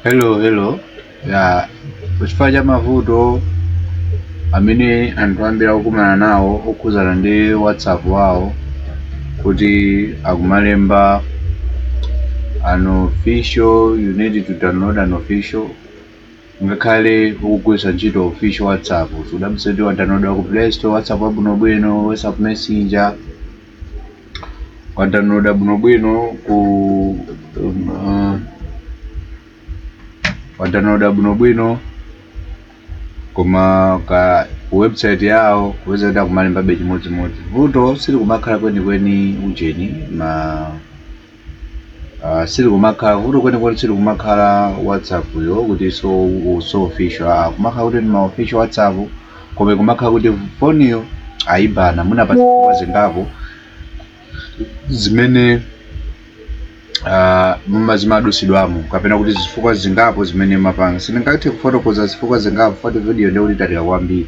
hello hello ya kuchifukwa cha mavuto amene anthu ambiri akukumana nawo okhudzana ndi whatsapp wawo kuti akumalemba unofficial you need to download an official ngakhale ukugwiritsa ntchito official whatsapp sudabwitse kuti wadownloada ku play store whatsapp wabwinobwino whatsapp messenger wadownloada bwinobwino ku um, uh, wadownloada bwinobwino koma ku website yawo upeza kuti akumalembabe chimodzimodzi vuto silikumakhala kwenikweni ujeni ma Ah, silikumakhala vuto kwenikweni silikumakhala whatsapp yo kuti so u- si official ah, kumakhala kuti ndi ma official whatsapp koma ikumakhala kuti foniyo ayibana mwina pa zifukwa zingapo zimene ah, muma zimadutsidwamo kapena kuti zifukwa zingapo zimene mumapanga sindingathe kufotokoza zifukwa zingapo foti video ndikuti italika kwambiri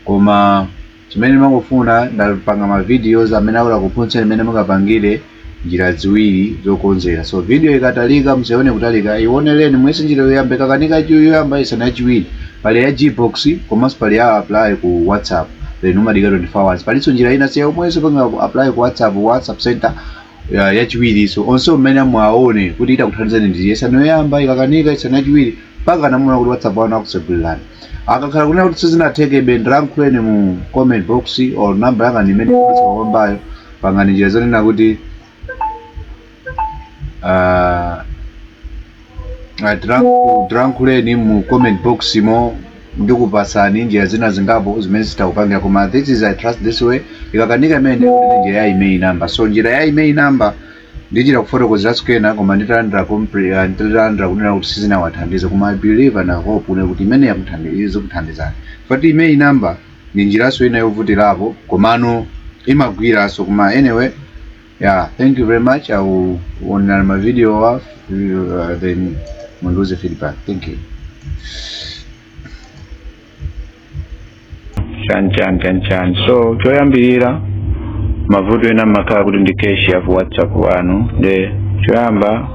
koma Chimene ndimangofuna ndapanga ma videos amene atakuphunzitseni mmene mungapangire njira ziwiri zokonzera so video ikatalika musaione kutalika ioneleni muyese njira yoyamba ikakanika chu- yoyamba yesani yachiwiri pali ya gbox komanso pali ya apply ku whatsapp then umadika 24 hours palinso njira ina siya omwenso panga apply ku whatsapp whatsapp center ya- yachiwiri so onse imene muone kuti itakuthandizani nde yesani yoyamba ikakanika yesani yachiwiri mpakana muone kuti whatsapp wanu akutsegulirani akakhala kunena kuti sizinathekebe ndilankhuleni mu comment box or namba yanga ndi imene ikudutsa pamwambayo pangani njira zonena kuti ah, ah, ndilanku- ndilankhuleni mu comment box mo ndikupasani njira zina zingapo zimene zitakupangira koma this is i trust this way ikakanika imene ndikuti njira ya email number so njira ya email number Ndichita kufotokozera tsiku lina koma nditalandira compre uh, nditalandira kunena kuti sizinawathandize koma I believe and I hope kunena kuti imene yakuthandiza izikuthandizani chifukwa choti email number ndi njiranso ina yovutirapo komano imagwiranso koma anyway yeah thank you very much I will onera ma video wa uh, then mundiuze feedback thank you chani chani chani chani so choyambirira mavuto ena amakhala kuti ndi cache ya ku whatsapp wanu nde choyamba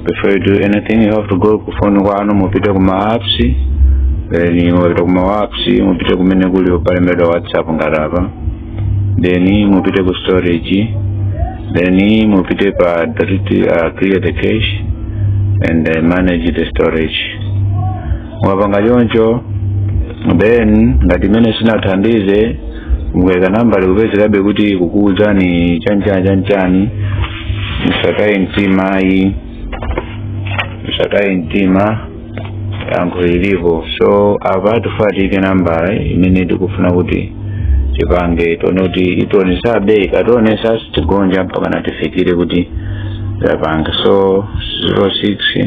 before you do anything you have to go ku phone kwanu mupite ku ma apps then mupite ku ma apps mupite kumene kuli palembedwa whatsapp ngati apa then mupite ku storage then mupite pa delete, uh, clear the cache and uh, manage the storage mwapanga choncho then ngati imeneyi sinathandize mukayika namba ikupezekabe kuti ikukuwuzani chanchani chanchani musataye mtima ayi musataye mtima yankho lilipo so apa tifuna tiike nambala imene tikufuna kuti tipange tione kuti itionesa bei kationesa tigonja mpaka natifikire kuti tapanga so 06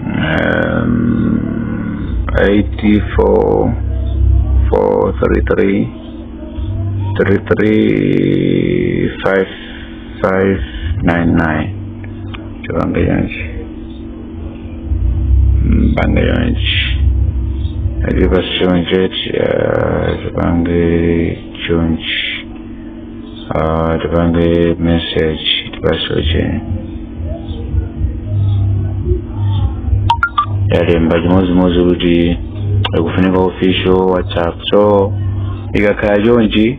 um, 84 433 33 599 tipange chonchi mpanga chonchi ali pa chonchi tipange chonchi Ah, tipange message tipasoche yalemba chimodzimodzi kuti ikufunika official whatsapp so ikakhala chonchi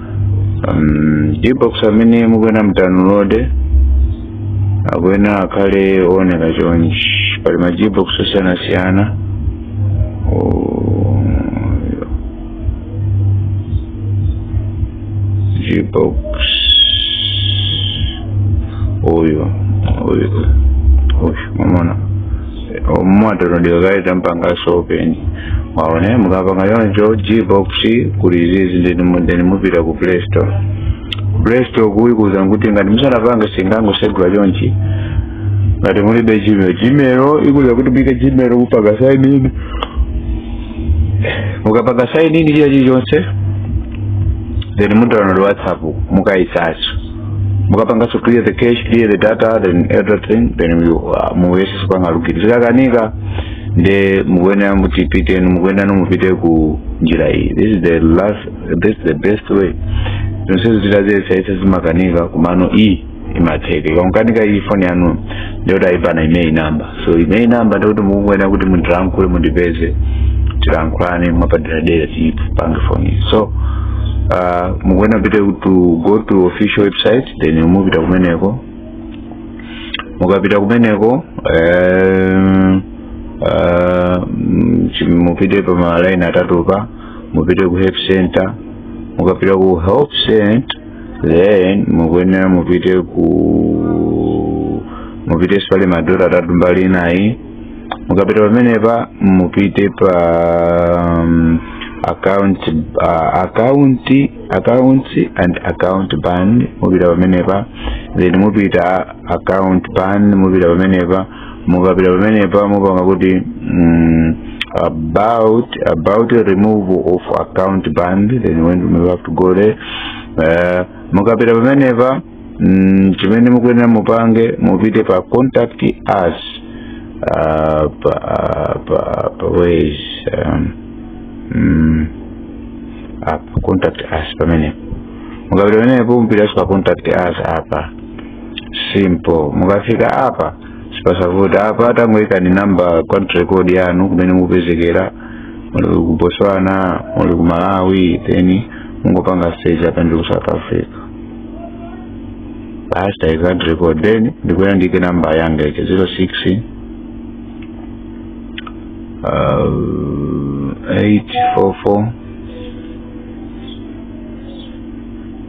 um, gbox amene mukuyenera mudownload akuyenera akhale ooneka chonchi pali ma gbox osiyanasiyana Oh, gbox uyu uyu uyu mwamuona mwadownload kale tampangaso open waone mukapanga choncho gbox kuli izizi ndeni mu- ndeni mupita ku play store play store ikukuuza kuti ngati musanapanga singangotsegula chonchi ngati mulibe gmail gmail ikuuza kuti muike gmail kupanga sign in mukapanga sign in china chilichonse then mudownload whatsapp mukaisaso mukapanganso clear the cache clear the data then everything then you, uh, muyese kupanga login zikakanika nde mukuyenera mutipite mukuyenera mupite ku njira iyi this is the last this is the best way zonsezo tidaziyesayesa zimakanika komano iyi imatheka ikakanika iyi foni yanu ndiyoti aibana IMEI number so IMEI namba ndekuti mukuyenera kuti mundilankhule mundipeze tilankhulane mwapaderadera tipange foni so uh, mukuyenera pite to go to official website then mupita kumeneko mukapita kumeneko eh, eh, mm, chi- mupite pa malaini atatupa mupite ku help center mukapita ku help center then mukuyenera mupite ku mupite spali madota atatu mbali inayi mukapita pamenepa mupite pa um, account uh, account account and account ban mupita pamenepa then mupita account ban mupita pamenepa mukapita pamenepa mupanga kuti mm, about about a removal of account band then when you have to go there uh, mukapita pamenepa mm, chimene mukuyenera mupange mupite pa contact us uh, pa, pa, pa ways um, mm, apa contact us pamenepo mukapita pamenepo mupita pa contact us pa simple mukafika apa sipasavuta apa tangoikani namba country code yanu kumene mupezekera muli ku botswana muli ku malawi then mungopanga change apa ndi ku south africa basi tayika country code then ndikuyenera ndiike namba yanga 06 uh, 844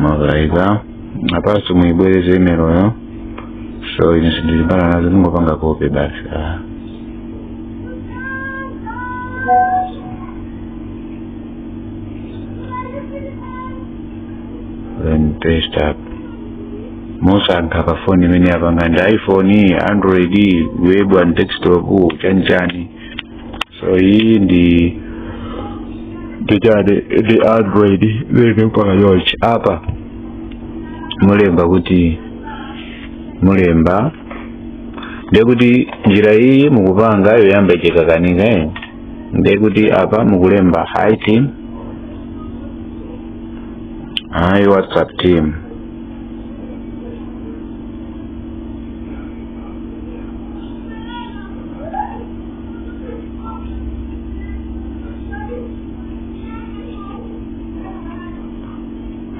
mwayika apanso muyibwereze imeloyo so ine sindilimbana nazo ndingopanga copy basi ah. then paste apa musankha pa foni imene yapanga ndi ya iphone android web and desktop chanchani so iyi ndi ya chani ndi android then mupanga choncho apa mulemba kuti mulemba ndiye kuti njira iyi mukupanga yoyamba ichikakanika eh? ndiye kuti apa mukulemba hi team hi whatsapp team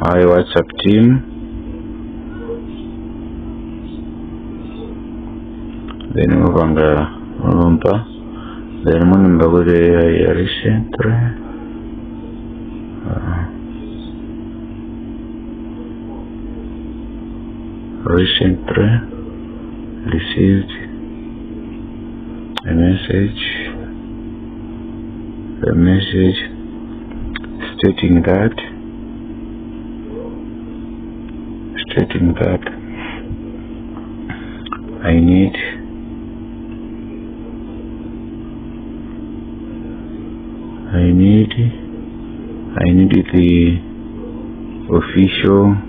Hi WhatsApp team. Then mupanga mulumpa. Then mulemba kuti I recently. Uh, Recently received a message, a message stating that, stating that I need I need I need the official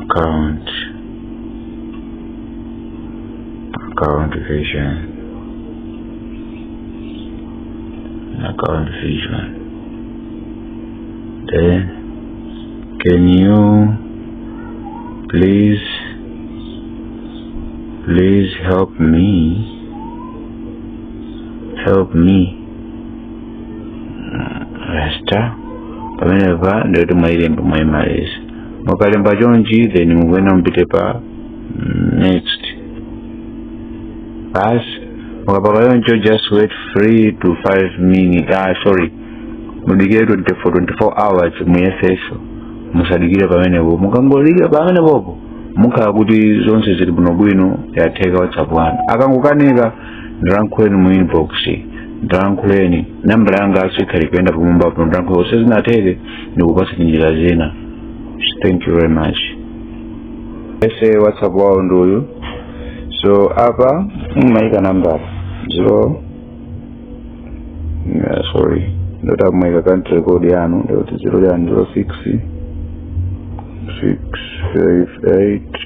account account vision account vision then can you please please help me help me rasta pamene pa ndikuti mwailemba mwaimaliza mukalemba chonchi then mukuyenera mupite pa mm, next bas mukapaka choncho just wait 3 to 5 minutes ah sorry mudikire 24 24 hours muyesenso musadikire pamenepo mukangodikira pamenepopo mukhala kuti zonse zili bwinobwino yatheka whatsapp wanu akangokanika ndilankhuleni mu inbox ndilankhuleni nambala yanganso ikhali kuyenda pamwamba pano ndilankhuleni sizinatheke ndikupatsani njira zina thank you very much so whatsapp wawo ndi uyu so apa mumaika nambala zero yeah, sorry ndoti mumaika country code yanu ndikuti zero yanu zero six six five eight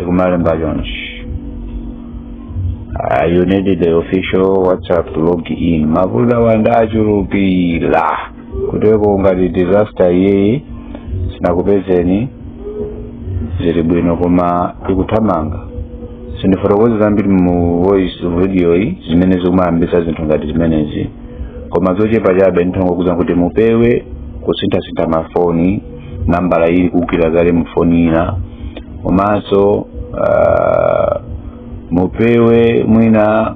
ikumalemba chonchi Uh, you need the official whatsapp to log in mavuto awa nde achulukira kuteko ngati disaster iyeyi sinakupezeni zili bwino koma ikuthamanga sindifotokoza zambiri mu voice video iyi zimene zikumayambisa zinthu ngati zimenezi koma zochepa chabe nditha kungokuuzani kuti mupewe kusinthasintha mafoni nambala ili kugwira kale mufoni ina komanso uh, mupewe mwina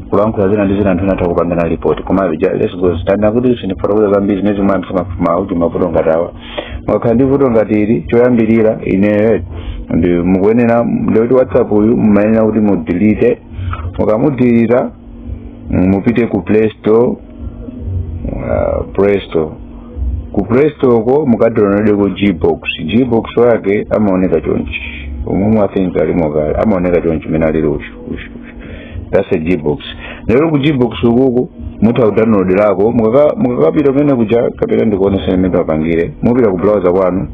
kulankhula zina ndi zina anthu anatha kupangana report koma ja- let's go straight kuti sindifotokoza zambiri zimene zimwe anthu mafuma uti mavuto ngati awa mukakhala ndi vuto ngati ili choyambirira ineyo ndi mukuyenera ndikuti whatsapp uyu mumayenera kuti mumudilite mukamudilita mupite ku play store uh, play store ku play store ko mukadownloadeko gbox gbox wake amaoneka chonchi umumu I think alimo kale amaoneka chonchi mene alili ushu ushu that's a gbox ndiye ku gbox ukuku mutha kudownloadirako mukaka- mukakapita kumene kuja kapena ndikuoneseni mmene mungapangire mupita ku browser kwanu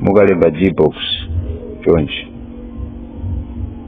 mukalemba gbox chonchi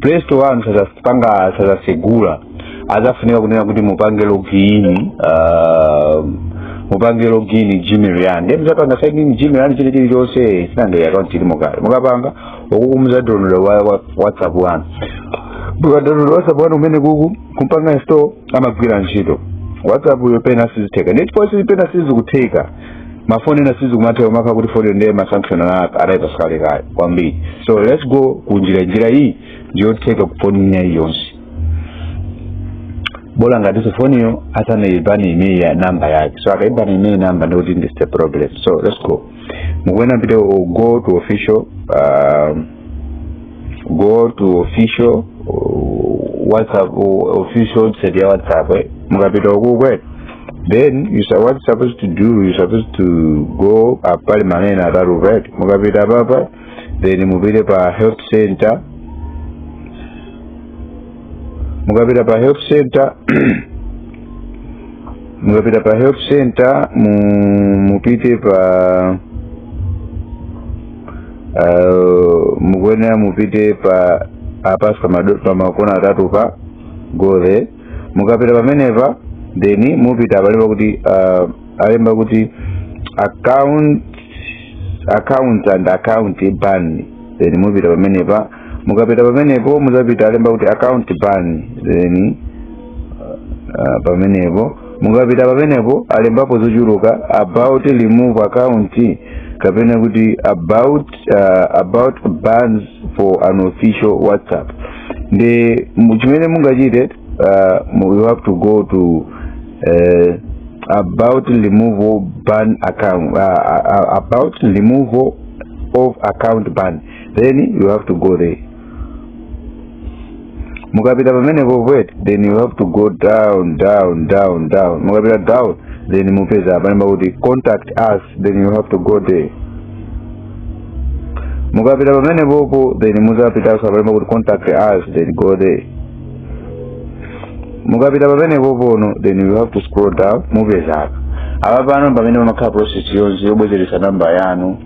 play store wanu sazapanga sazasegula azafunika kunena kuti mupange login uh, mupange login gmail yanu ndiye muzapanga sign in gmail yanu ine chilichonse since account ilimo kale mukapanga ukuku muzadownload wa, wa, whatsapp wanu mukadownload whatsapp wanu umene kuku kumpanga store amagwira ntchito whatsapp uyo pena sizitheka ndiye chifukwa pena sizikutheka mafoni ena sizikumatheka makamaka kuti foni ndiye masanction adayipasa kale kale kwambiri so let's go ku njira iyi ndiyotheka ku foni ina iliyonse bola ngatiso foniyo asanayibani imene ya namba yake so akayibani imene namba ndikuti ndi the problem so let's go mukuyenera mupite u- go to official um, go to official uh, whatsapp uh, official website ya whatsapp eh? mukapita ukuko then you sa- what you supposed to do you supposed to go up apa pali malaini atatu right mukapita apapa then mupite pa help center mukapita pa help center mukapita pa help center mu, mupite pa uh, mukuyenera mupite pa apaso pamakona atatu pa go there mukapita pamenepa then mupita apa alemba kuti uh, alemba kuti account account and account ban then mupita pamenepa mukapita pamenepo muzapita alemba kuti account ban then uh, pamenepo mukapita pamenepo alembapo zochuluka about remove account kapena kuti about uh, about bans for unofficial whatsapp ndi mu- chimene mungachite uh, mu- you have to go to uh, about removal ban account uh, uh, uh, about removal of account ban then you have to go there mukapita pamenepo wet then you have to go down down down down mukapita down then mupeza pamene pakuti contact us then you have to go there mukapita pamenepopo then muzapitaso apa alemba kuti contact us then go there mukapita pamenepopono then you have to scroll down mupeza apa pano pamene pamakhala process yonse yobwezeretsa namba yanu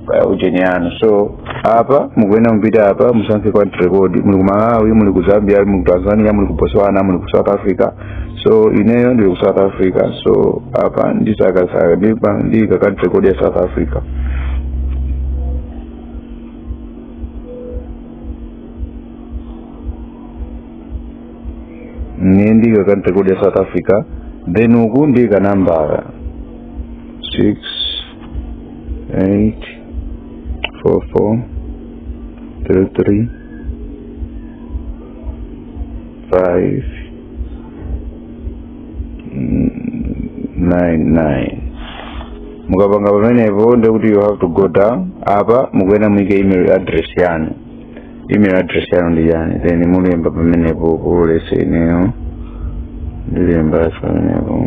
kaya ujeni yanu so apa mukuyenera mupite apa musankhe country code muli ku malawi muli ku zambia muli ku tanzania muli ku botswana muli ku south africa so ineyo ndili ku south africa so apa ndisakasaka ndiika country code ya south africa ine ndiika country code ya south africa then uku ndiika namba six eight four four three three five nine nine mukapanga pamenepo ndekuti you have to go down apa mukuyenera muike email address yanu email address yanu ndi chani then mulemba pamenepo polese ineyo ndilemba pamenepo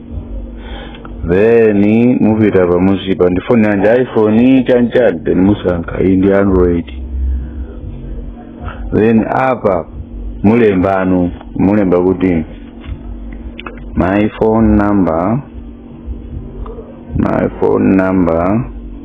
then mupita pamusipa ndi foni yanji iphone chanchani then musankha iyi ndi android then apa mulemba no mulemba kuti my phone number my phone number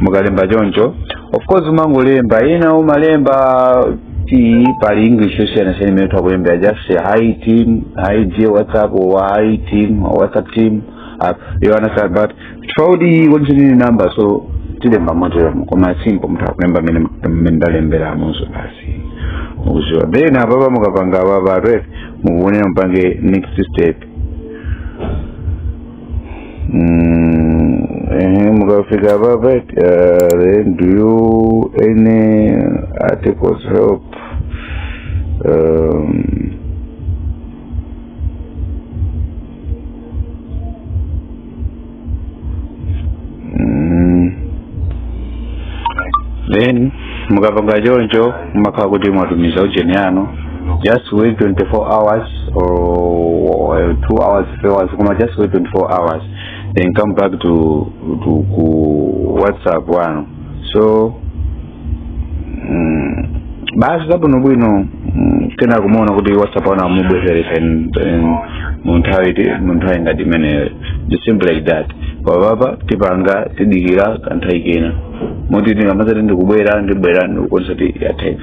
mukalemba choncho of course mumangolemba ina umalemba kuti pali english yosiyanasiyana imene mutha kulemba just say hi team hi dear whatsapp or hi team or whatsapp team uh, you understand but throughout what you need number so tilemba motoyomo koma simple mutha kulemba mmene mmene ndalemberamuso basi akumva then apapa mukapanga apapa atwere mukuona mupange next step Mm, eh, mukafika papa eti, uh, then do you any articles help um, Mm. then mukapanga choncho mumakhala kuti mwatumiza ujeni yanu just wait 24 hours or, or 2 hours 3 hours koma just wait 24 hours then come back to, to ku whatsapp yanu so basi zabwinobwino mm, kena kumuona kuti whatsapp wanu amubwezeretsa in- in- mu nthawi ti- mu nthawi ngati imeneyo It's simple like that papapa tipanga tidikira kanthawi kena moti tingamazati ndikubwera ndibwera ndikuonetsa kuti yatheka